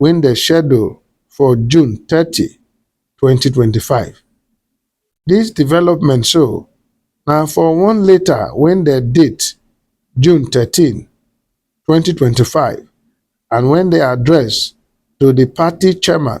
wey dem schedule for June thirty, twenty twenty five. Dis development so na for one letter wey dem date June thirteen, twenty twenty five and wey dem address to di party chairman,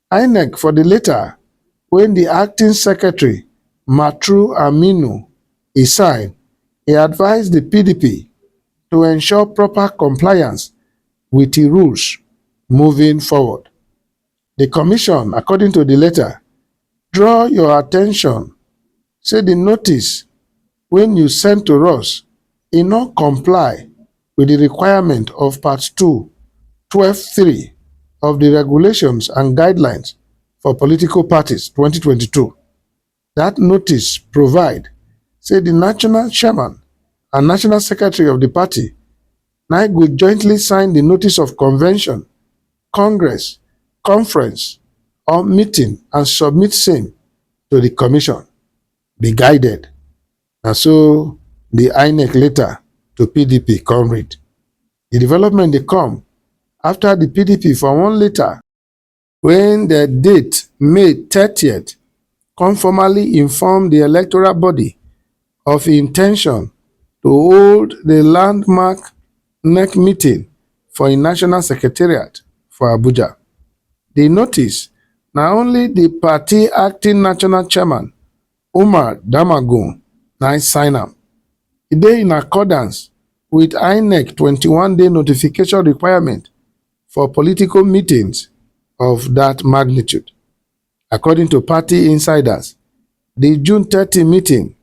Inec for di letter wey di acting secretary Matru Aminu e sign, e advise di pdp to ensure proper compliance wit di rules moving forward. Di commission, according to di letter, draw your attention say di notice wey you send to us e no comply wit di requirement of Part two, twelve three of di Regulations and Guidelines for Political Parties, twenty twenty two. Dat notice provide say di national chairman and national secretary of di party na go jointly sign di notice of convention Congress, conference or meeting and submit same to di commission, be guided, na so di Inec letter to pdp come read. Di development dey come afta di pdp for one letter wey dem date May thirtieth come formally inform di electoral body of im in ten tion to hold di landmark nec meeting for im national secretariat for abuja di notice na only di party acting national chairman umar damagum na im sign am e dey in accordance wit inec twenty one day notification requirement for political meetings of dat magnitude According to party insiders, di June thirty meeting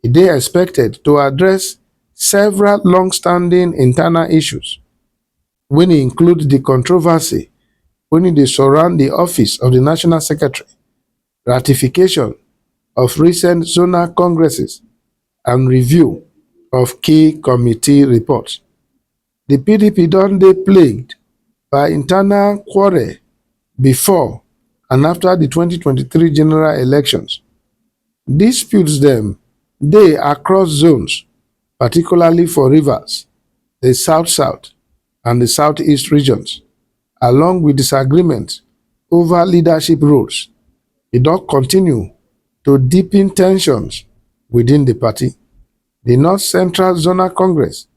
dey expected to address several long-standing internal issues, wey include di controversy wey dey surround di office of di national secretary, ratification of recent zonal congresses and review of key committee reports. di pdp don dey plagued by internal quarrel bifor and afta di twenty twenty three general elections disputes dem dey across zones particularly for rivers di south-south and di south-east regions along wit disagreements ova leadership roles e don continue to deepen ten sions within di party di north central zonal congress.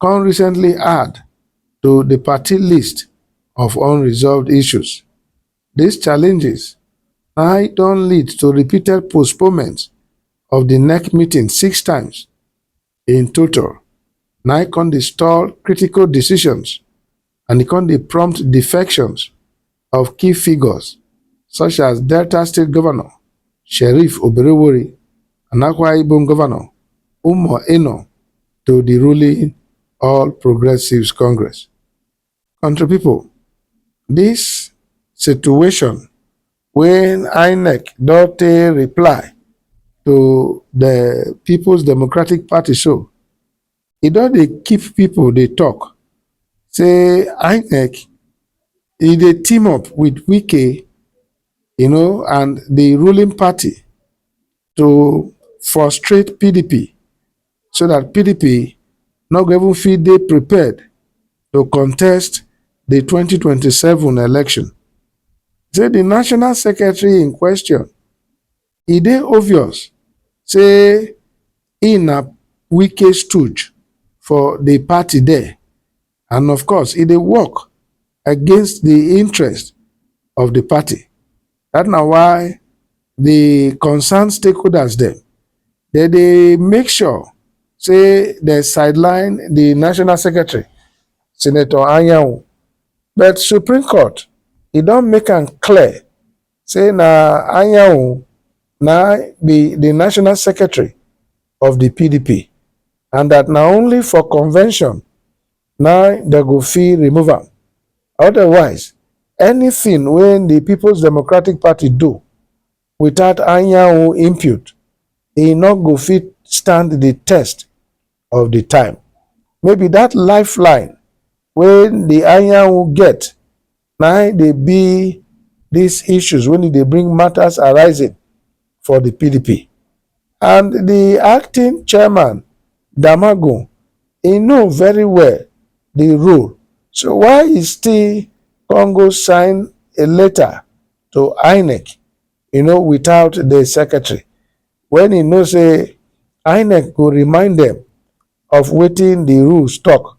come recently add to di party list of unresolved issues. Dis challenges nai don lead to repeated postponement of di nec meeting six times in total, nai come dey stall critical decisions and e come dey prompt defections of key figures such as Delta State Governor Sheriff Oberewori and Akwa Ibom Governor Umo Eno to the ruling All Progressives Congress. Country people, this situation when INEC don't reply to the People's Democratic Party so e don dey keep pipo dey tok say inec e dey team up wit wike um and di ruling party to frustrate pdp so dat pdp no go even fit dey prepared to contest di twenty twenty seven election say di national secretary in question e dey obvious say im na Wike stooge for di party there and of course e dey work against di interest of di party. Dat na why di concerned stakeholders dem dem dey make sure say dem sideline di national secretary, Senator Anyanwu but Supreme Court e don make am clear say na Anyanwu na be the national secretary of the PDP and that na only for convention na they go fit remove am. Otherwise, anything wey the People's Democratic Party do without Anyanwu input, e no go fit stand the test of the time. Maybe that lifeline wey the Anyanwu get na im dey be these issues when e dey bring matters arising for the PDP. And the acting chairman, Damagun, he know very well the rule. So why he still come go sign a letter to INEC, you know, without the secretary? When he know say INEC go remind them of wetin the rules talk